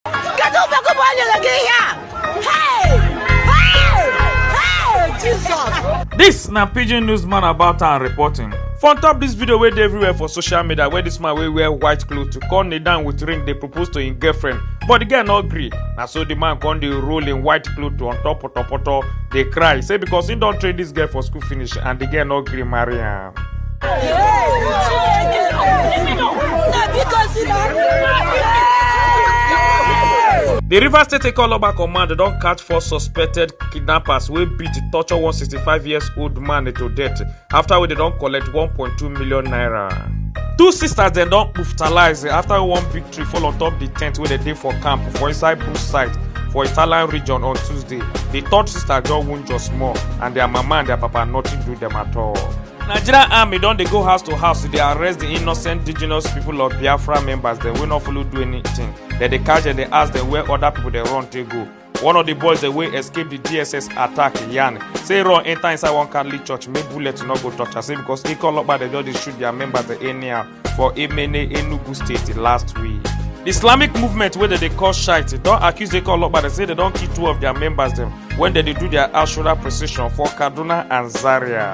Kedu mgbe gụbụ o nyere gị ihe a? Hey! Hey! Hey! Jizọs! This na pidgin news man about and reporting. For on top this video wey dey everywhere for social media where this man wey wear white cloth to come kneel down with ring dey propose to him girlfriend but the girl no gree na so the man come dey roll him white cloth to on top potopoto dey cry say because he don train this girl for school finish and the girl no gree marry am. di rivers state ikoloba command don catch four suspected kidnappers wey beat torture one 65 years old man to death afta wey dem don collect 1.2 million naira two sisters dem don hospitalised afta one big tree fall on top di tent wey dem dey for camp for inside bush site for italian region on tuesday di third sister just wound just small and dia mama and dia papa nothing do dem at all. nigerian army don dey go house to house to dey arrest di innocent indigenous pipo of biafra members dem wey no follow do anytin dem dey catch dem dey ask dem where oda pipo dey run take go. one of the boys dem wey escape the dss attack yarn say run enter inside one catholic church make bullet no go touch am say because ikọ ọlọpàá dem just dey shoot their members dem anyhow for emene enugu state last week. the islamic movement wey dem dey call shite don accuse ikọ ọlọpàá dem say dem don kill two of their members dem when dem dey do their ashura procession for kaduna and zaria.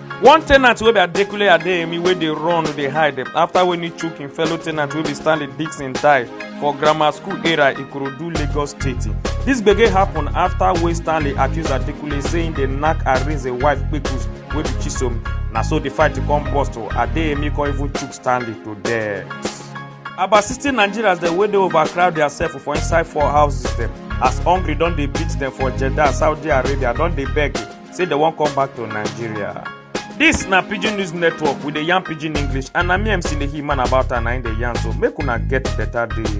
one tenant wey be adekunle adeyemi wey dey run dey hide after wey he chook him fellow tenant wey be stanley dixon die for grammar school area ikorodu lagos state dis gbege happen after wey stanley accuse adekunle say he dey knack arinze wife kpekus wey be chisom na so the fight come burst o adeyemi come even chook stanley to death. about sixty nigerians dem wey dey overcrowd diasef for inside four houses dem as hungry don dey beat dem for jeddah saudi arabia don dey beg say dem wan come back to nigeria dis na pidgin news network we dey yarn pidgin english and na me mc lehi man about am na im dey yarn so make una get better day